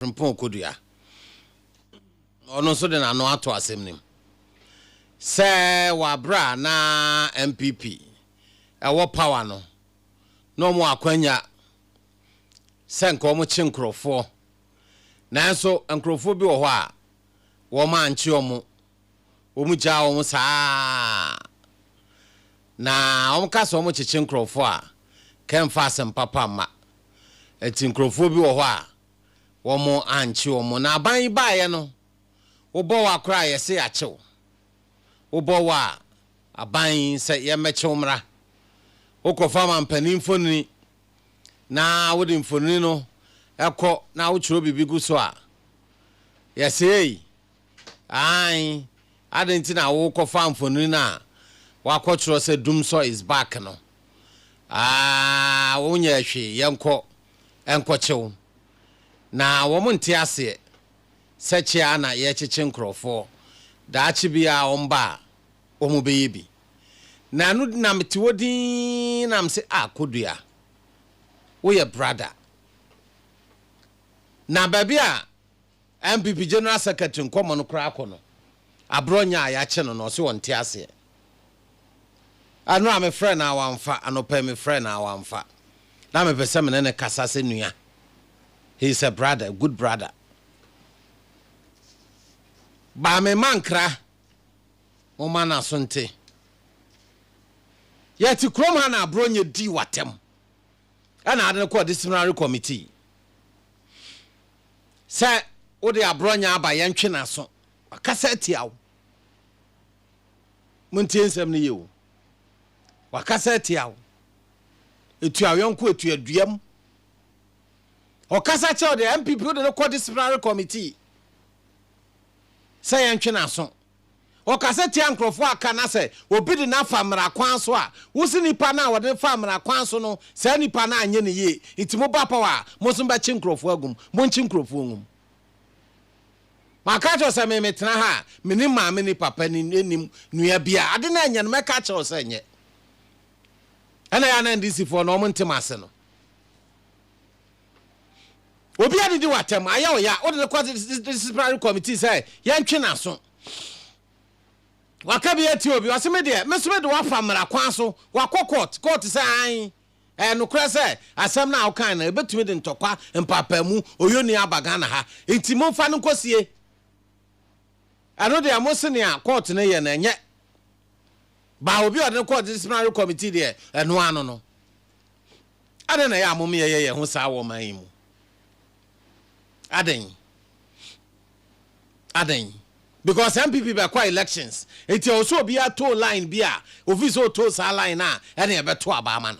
Frimpong Kodua. Ɔno nso de n'ano ato asɛm no mu sɛ wɔ abere a na NPP ɛwɔ power no na wɔn wɔ akwanya sɛ nka wɔn kye nkorɔfoɔ nanso nkorɔfoɔ bi wɔ hɔ a wɔn ankye wɔn, wɔn gyaa wɔn saa na wɔn ka sɛ wɔn kyekye nkorɔfoɔ a kɛmfa asɛm papa mma. Nti nkorɔfoɔ bi wɔ hɔ a wɔn ankye wɔn na aban yi baeɛ no wobɔ wo akora a yɛse yɛakye wo wobɔ wo a aban yi sɛ yɛmmɛkye wo mmra wokɔfa mampanin mfonini na wode mfonini no ɛkɔ na wotwerɛ biribi gu so a yɛse ei Aane, adɛn nti na worekɔfa mfonini no a wɔakɔtwerɛ sɛ Dumsor is back no? Aah, wonyɛɛ hwee, yɛnkɔ nkɔkye wo. Na wɔn nte aseɛ sɛ kye ara na yɛrekyekye nkorɔfoɔ, daakye biara wɔba a wɔbɛyɛ bi. Na ɛno nti na mete hɔ dinn na mese ah Kodua, woyɛ brada. Na baabi a NPP General Secretary nkɔmmɔ no koraa kɔ no, aberɛ ɔnya a yɛakye no no, ɔse ɔnte aseɛ. Ɛno a mefrɛɛ no a wamfa, anɔpa yi mefrɛɛ no a wamfa. Na mepɛ sɛ me ne no kasa sɛ nua. He is a brother, a good brother. Baa me mma nkra, momma n'aso nte. Yɛte kurom ha na aberɛ ɔnya dii w'atɛm. ɛna ade no kɔɔ disciplinary committee sɛ wode aborɔnya aba yɛntwe n'aso wakasa atia wo montie nsɛm no yie o wakasa atia wo etu ayɔnko etu aduam ɔkasa kyɛw de npp wode no kɔ disciplinary committee sɛ yɛntwe n'aso Ɔkasa tia nkurɔfo a aka na sɛ obi de no afa mmara kwan so a, wose nnipa no a wɔde no faa mmara kwan so no, saa nnipa no anyɛ no yie, nti moba apaw a, mo nso mobɛkye nkurɔfo agu mu. Monkye nkurɔfo ngu mu. Maka akyerɛ wo sɛ me metena ha a, mennim maame ne papa ne nnim nua biara. Ade no a nyɛ no, mɛka akyerɛ wo sɛ nyɛ. Ɛna ɛyɛ a na NDCfoɔ no wɔnte m'ase no. obi adidi wɔ atɛm ayɛ ɔya wode no kɔ disciplinary committee sɛ yɛntwe n'aso waka bi atia obi ɔse me deɛ me so mede wafa mmara kwan so wakɔ court court sɛ an ɛyɛ nokorɛ sɛ asɛm no a wokan no ɛbɛtumi de ntɔkwa mpaapaemu oyoni aba Ghana ha nti momfa no nkɔsie ɛno deɛ mo se nea court no yɛ no ɛnyɛ baa obi a ɔde no kɔɔ disciplinary committee deɛ ɛno ano no Adɛn na ɛyɛ a amomyɛ yɛ yɛn ho saa wɔ ɔman yi mu? Adɛn? Adɛn? Because NPP bɛkɔ elections, enti ɛwɔ sɛ obiara too line bi a ofii sɛ otoo saa line no a, ɛne ɛbɛto aba ama no.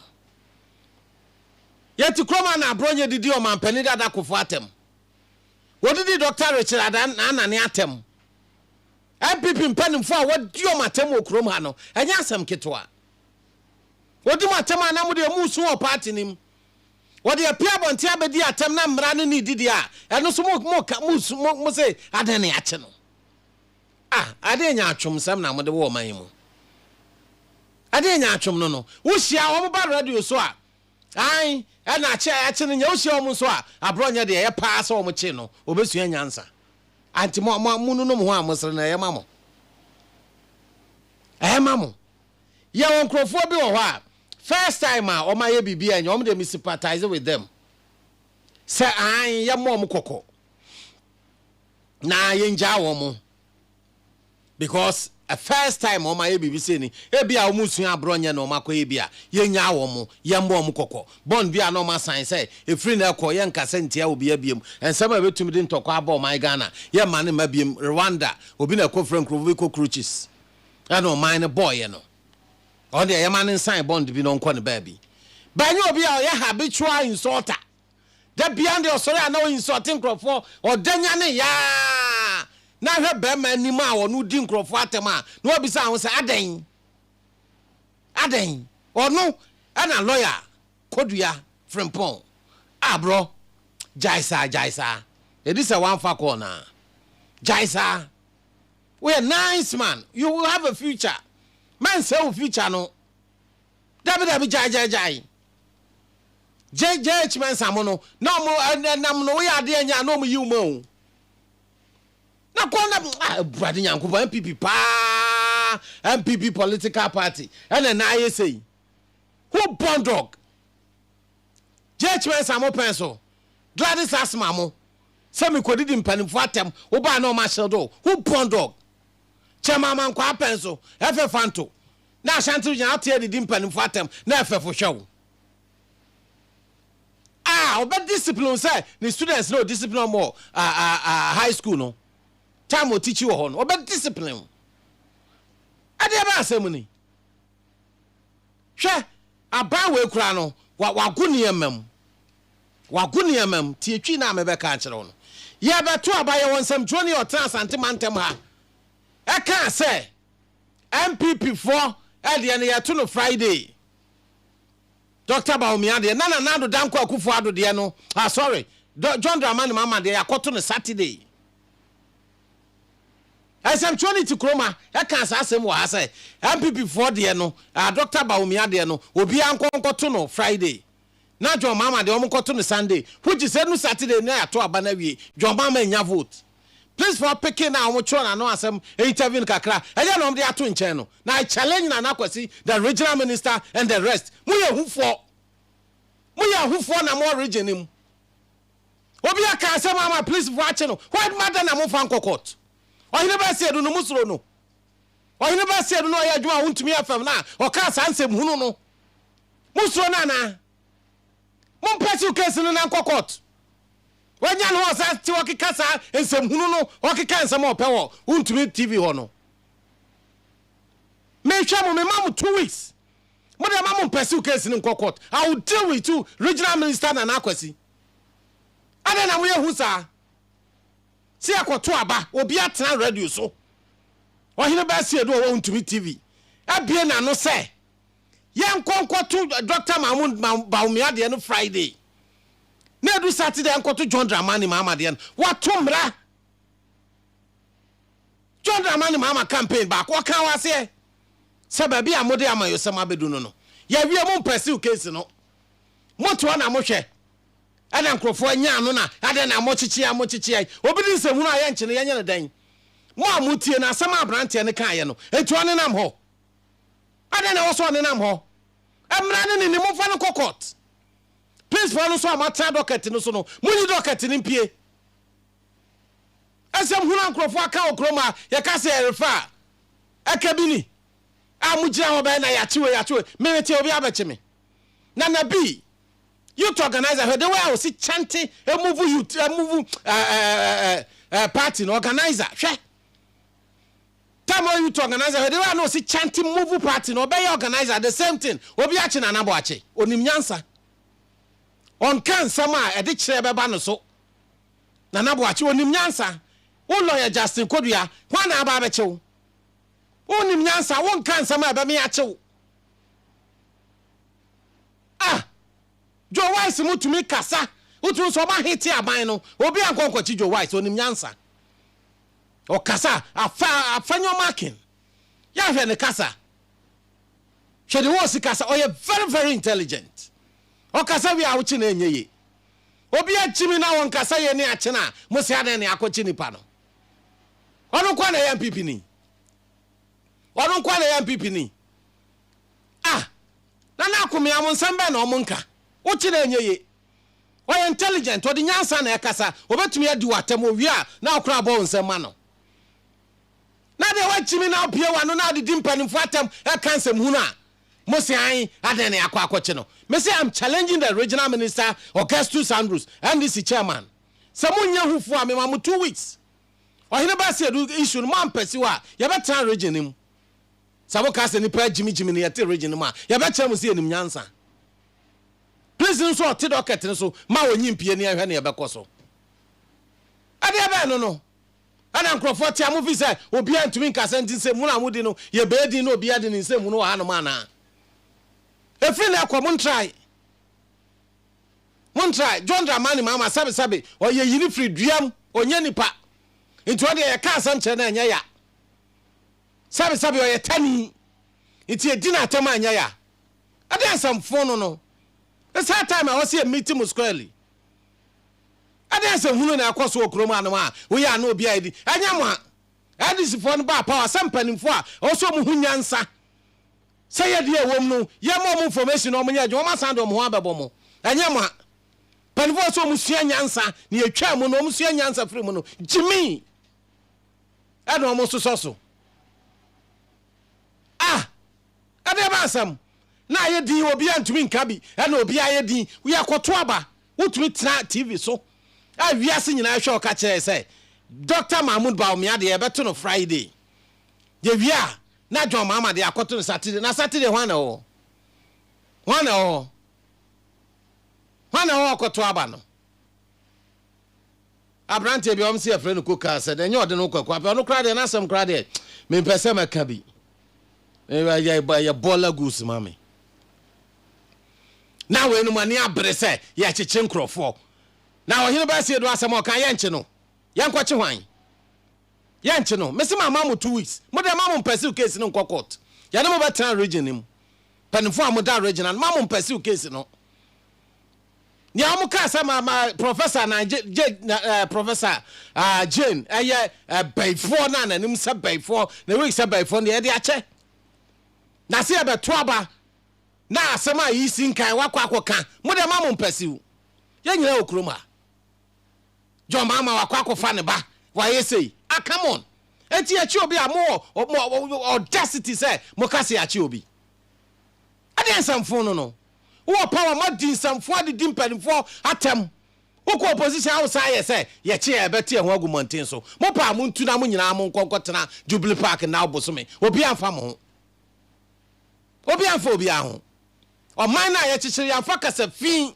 Yɛte kurom a na Aborɔnyɛ didi ɔmanpanin Dada Kofo atɛm. Wɔdidi Dɔkta Richard Adan Anane atɛm. NPP mpanimfoɔ a wɔadi wɔn atɛm wɔ kurom ha no, ɛnyɛ asɛm ketewa. Wodi mo atɛm a na mo deɛ moresu wɔ party no mu. Wɔde apue abɔnten abɛdi atɛm na mmara no nni didie a, ɛno nso mo mo ka mo su mo mo se adɛn na yɛakye no. Ah, adɛn nyaatwom nsɛm na mode wɔ ɔman yi mu? Adɛn nyaatwom no no? Wohyia wɔn ba radio so a, ae, ɛna akye a yɛakye no nyɛ. Wohyia wɔn nso a, aborɔ nyɛ deɛ ɛyɛ paa sɛ wɔn kye no, wɔbɛsua nyansa. Anti mo mo monunom ho a mosere no ɛyɛ ma mo? Ɛyɛ ma mo? Yɛwɔ nkorɔfoɔ bi wɔ hɔ a, first time a wɔn ayɛ biribi annyɛ wɔn deɛ me sympathize with them. Sɛ aane yɛ mmɔ wɔn kɔkɔ na yɛn gyaa wɔn because a first time wɔn ayɛ biribi sei ni, ebi a wɔn nsua abrɔ nyɛ na wɔn akɔ yɛ bi a, yɛn nyaa wɔn, yɛn mmɔ wɔn kɔkɔ. Bond bi a na wɔn asan sɛ ɛfiri nnɛ rekɔ yɛn nka sɛ ntia obia biom, nsɛm a ɛbɛtumi de ntɔkwa aba ɔman Ghana yɛn mma no mma biom, Rwanda obi na ɛkɔ fira nkorɔfoɔ bi cockroaches. ɛna ɔman no bɔɔyɛ no ɔno deɛ yɛma no nsan bɔnd bi na ɔnkɔ ne baabi bɛnyɛ obi a ɔyɛ habitual insulter da bia deɛ ɔsɔre a na ɔinsulte nkurɔfoɔ ɔda nya ne yaa na hwɛ bɛrima anim a ɔno di nkurɔfoɔ atɛm a na wabisa ho sɛ adɛn adɛn ɔno ɛna lɔya kɔdua frimpɔn a borɔ gyae saa gyae saa ɛdi sɛ wamfa kɔɔ no a gyae saa Woyɛ nice man you will have a future mɛnsɛe wo future no dabi dabi gyae gyae gyae gye gye akyi mɛnsa mo no na ɔmo ɛnam no woyɛ adeɛ nyɛ a na ɔmo yiw ma o na kɔn na ah brade nyankopɔn npp paa npp political party ɛna na ayɛ sei who born dog J-H Mensah mo pɛn so, Gladys Asmah mo sɛ me kɔdidi mpanimfoɔ atɛm wo baa na ɔmo ahyerɛ do ho born dog Kyɛma Amankwaa pɛn so, Efe Fanto ne Ashanti Region ate adidi mpanimfoɔ atɛm na ɛfɛfo hwɛ wo a ɔbɛ discipline wo sɛ ne students na ɔ discipline ɔmo wɔ high school no time ɔ teachi wɔ hɔ no ɔbɛ discipline wo ɛdeɛ bɛn asɛm ni. Hwɛ, aban wei koraa no, wa, wago nneɛma mu. Wago nneɛma mu. Tie twi no a mebɛka akyerɛ wo no. Yɛbɛto aba, yɛwɔ nsɛmtwerɛni a ɔtena Asante mantam ha, ɛkaa sɛ, NPP foɔ deɛ no yɛto no Friday. Dɔkta Bawumia deɛ, na Nana Addo Dankwa Akufo-Addo deɛ no, ah sorry, John Dramani Mahama deɛ yɛakɔto no Saturday. Nsɛmtwerɛ no ti Kroma ɛkaa saa asɛm wɔ ha sɛ NPP foɔ deɛ no ah Doctor Bawumia deɛ no obiara nkɔ nkɔto no Friday na John Mahama deɛ wɔn nkɔto no Sunday which is ɛnu Saturday na yɛato aba no awie John Mahama nnya vote please for picking na wɔn twerɛ n'ano asɛm interview no kakra ɛyɛ na wɔn de ato nkyɛn no na I challenge Nana Kwasi the regional minister and the rest mo yɛ ahufoɔ mo yɛ ahufoɔ na mo wɔ region no mu. Obi aka asɛm ama polisifo akye no, why ma dɛn na momfa nkɔ court? Ɔhene Bɛseadu no, mosuro no? Ɔhene Bɛseadu no a ɔyɛ adwuma a wontumi yɛ fam no a ɔkaa saa nsɛm hunu no, mosuro no anaa? Mom pursue case no na nkɔ court. Wanya ne ho a ɔsan te hɔ keka saa nsɛm hunu no, ɔkeka nsɛm a ɔpɛ wɔ wontumi TV hɔ no. Mehwɛ mo, mema mo two weeks. Mo deɛ ma mo mpɛsiw case no nkɔ court. I will deal with you regional minister Nana Kwasi. Adɛn na moyɛ hu saa? Sɛ yɛkɔto aba, obi atena radio so. Ɔhene Bassey Odo ɔwɔ Ntumi TV abue n'ano sɛ yɛnkɔ nkɔto Dɔkta Mahmood Bawumia deɛ no Friday na edu Saturday yɛnkɔto John Dramani Mahama deɛ no. Wato mmara. John Dramani Mahama campaign baako, ɔkaa wɔ aseɛ sɛ baabi a mode amayɔsɛm abɛdu no no, yɛawie, mo mpɛsiw case no, motoɔ na mohwɛ na nkorɔfoɔ anya ano na adɛn na mokyekyeɛ mokyekyeɛ, obi de nsɛmhunu a yɛnkye no yɛnyɛ no dɛn? Mo a motie no, asɛm a aberanteɛ no kaeɛ no, enti ɔnenam hɔ? Adɛn na ɛwɔ sɛ ɔnenam hɔ? Mmara no ne ni, momfa no nkɔ court. Principal no nso a moatena docket no so no, monyi docket no mpue. Asɛm hunu a nkurɔfoɔ aka wɔ kurom a yɛka sɛ yɛrefa a, ɛka bi ni, A mogyina hɔ bɛyɛ na yɛakye wei, yɛakye wei, merete obi abɛkye me. Na na bi, youth organiser, hwɛ the way a ɔsi chante emuvu youth, emuvu eh, eh, eh, eh, eh, party no, organiser, hwɛ. Time ɔyɛ youth organiser, hwɛ the way a na ɔsi chante muvu party no, ɔbɛyɛ organiser, the same thing, obi akye na anabɔ akye, onim nyansa. Ɔnka nsɛm a ɛde kyerɛ bɛba no so. Nana Boakye onim nyansa wo lɔya Justin Kodua hwan na aba abɛkye wo wonim nyansa wo nka nsɛm a ɛbɛme akye wo ah Joe Wise mu tumi kasa wotumi sɛ ɔma hete aban no obi ankɔ nkɔkye Joe Wise onim nyansa ɔkasa afa afa nyɔma aken yɛahwɛ ne kasa hwɛ de wɔ si kasa ɔyɛ very very intelligent ɔkasa wie a wokye na ɛnyɛ ye Obi akyi me na ɔnka sɛ yɛne akyene a mo se adɛn na yɛakɔkye nnipa no? Ɔno nko ara na ɛyɛ NPP ni? Ɔno nko ara na ɛyɛ NPP ni? Ah! Nana Akome a mo nsɛm bɛn na ɔmo nka? Wo kye no ɛnyɛ ye. Ɔyɛ intelligent, ɔde nyansa na ɛkasa, ɔbɛtumi adi wo atɛm, owie a na wo koraa bɔ wo nsɛm ma no. Na deɛ woakyi me na wabue w'ano na wode di mpanimfoɔ atɛm ɛka nsɛmhunu a, Mo se ae, adɛn na yɛakɔ akɔkye no? Me se I'm challenging the regional minister Augustus Andrews, NDC chairman, sɛ monyɛ ho fuo a mema mo two weeks. Ɔhene Baseadu issue no moampɛsiw a, yɛbɛtra region no mu. Sɛ moka sɛ nipa agyimigyimi na yɛte region no mu a, yɛbɛkyerɛ mo sɛ yɛnim nyansa. Please no nso ɔte docket no so ma ɔnyi mpie ne yɛnhwɛ nea ɛbɛkɔ so. Ɛdeɛ bɛn no no? na nkurɔfoɔ tea mo firi sɛ obiara ntumi nkasa nti nsɛmhunu a modi no yɛ bɛɛ din na obiara de ne nsɛmhunu wɔ hanom anaa? Ɛfiri nnɛ rekɔ montrae. Montrae. John Dramani Mahama sɛbesɛbe ɔyɛ yini firi duam, ɔnyɛ nipa. Nti ɔdeɛ yɛka asɛm kyerɛ no ɛnyɛ ya. Sɛbesɛbe ɔyɛ tani nti yɛdi no atɛm a ɛnyɛ ya. Ɛdeɛ nsɛmfo no no. It's high time a ɔse yɛ meet mo squarely. Anaasɛ hunu na ɛkɔ so wɔ kurom anom a woyɛ ano obi a edi? Ɛnyɛ mo a NDC foɔ no baa power sɛ mpaninfoɔ a ɛwɔ sɛ wɔn ho nyansa sɛ yɛ deɛ ɛwɔ mu no yɛ ma wɔn information na wɔn nyɛ adwuma wɔn asan de wɔn ho abɛbɔ mo. Ɛnyɛ mo a mpaninfoɔ ɛwɔ sɛ wɔn sua nyansa na yɛtwaa mu no wɔn sua nyansa firi mu no gyimii ɛna wɔn sosɔ so. Ah! Ɛdeɛ ma asɛm na ayɛ din obi a ntumi nka bi ɛna obi ayɛ din yɛ kɔto aba wotumi tena TV so a wiase nyinaa rehwɛ wo ka kyerɛɛ sɛ Dɔkta Mahmoud Bawumia deɛ yɛbɛto no Friday. Yɛwie a, na John Mahama deɛ akɔto no Saturday. Na Saturday hwan na ɛwɔ hɔ? Hwan na ɛwɔ hɔ? Hwan na ɛwɔ hɔ kɔto aba no? Aberanteɛ bi a wɔn se yɛfrɛ no Ko kaa sɛ, Deɛ ɛnyɛ ɔde no kwaku apɛ, ɔno koraa deɛ n'asɛm koraa deɛ mempɛ sɛ mɛka bi. Ɛyɛ ɛyɛ bɔɔla goose ma me. Na wei no mo ani abere sɛ yɛkyekye nkurɔfoɔ. Na ɔhene baa sie do asɛm a ɔka yɛnkye no. Yɛnkɔkye hwan? Yɛnkye no. Mese mama mo two weeks. Mo deɛ ma mo mpɛsiw case no nkɔ court. Yɛne mo bɛtena region no mu. Mpanimfoɔ a moda region ano, ma mo mpɛsiw case no. Nea wɔkaa sɛ ma ma Professor na gye gye na ɛɛ Professor ah Jane ɛyɛ ɛbɛifoɔ na n'anim sɛ bɛifoɔ na wig sɛ bɛifoɔ na yɛde akyɛ. Na se yɛbɛto aba na asɛm a yi si nkan wakɔ akɔka mo deɛ ma mo mpɛsiw. Yɛn nyinaa wɔ kurom ha. John Mahama wakɔ akɔfa ne ba wayɛ sei. Ah come on. Enti yɛkye obi a mo wɔ mo audacity sɛ mo ka se yɛakye obi. Ɛdeɛ nsɛmfo no no. Wowɔ power ma dinsɛmfoɔ adedi mpanimfoɔ atɛm. Wokɔ opposition a wosan yɛ sɛ yɛkye a yɛbɛte yɛn ho agu mmɔnten so. Mopɛ a montu na mo nyinaa monkɔ nkɔtena Jubilee Park nnao bosome. Obiara mfa mo ho. Obiara mfa obiara ho. Ɔman no a yɛkyekyere yɛamfa kasa fi,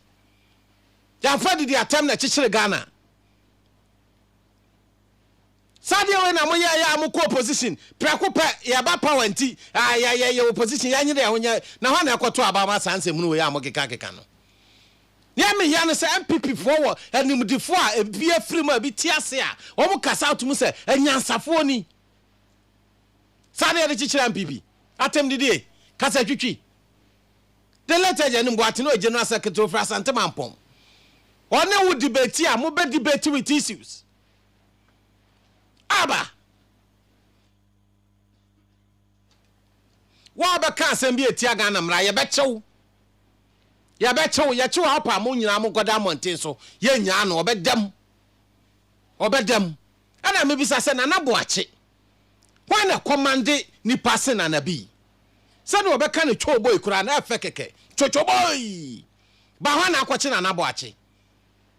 yɛamfa adidi atɛm na ɛkyekyere Ghana. Saa adeɛ wei na moyɛ yɛ a mo kɔ opposition prɛko pɛ yɛ ba power nti ah yɛ yɛ yɛ opposition yɛ nyere yɛ ho nyɛ na hɔ na ɛkɔ to aba ma saa nsɛm hunu wei a mo keka keka no neɛ me yɛ no sɛ NPP foɔ wɔ animdefoɔ a ebi afiri mu a ebi te ase a wɔn kasa ato mu sɛ anyansafoɔ ni saa na yɛde kyekyere NPP atɛm didie kasa twitwi the late agent Mboatene ɔyɛ general secretary ofiri Asante Mampɔn ɔne wo debate a mo bɛ debate with issues. Aba! Wo a bɛka asɛm bi etia Ghana mmara, yɛbɛkye wo. Yɛbɛkye wo, yɛkye wo apa mo nyinaa mo nkɔda mmɔnten so. Yɛnnya ano, ɔbɛda mu. Ɔbɛda mu. Ɛna mebisa sɛ Nana Boakye, hwan na ɛkɔmande nipa se Nana bi? Sɛdeɛ ɔbɛka no twooboi koraa no ɛfɛ kɛkɛ. Twotwoboi! Ba hɔ na akɔkye Nana Boakye.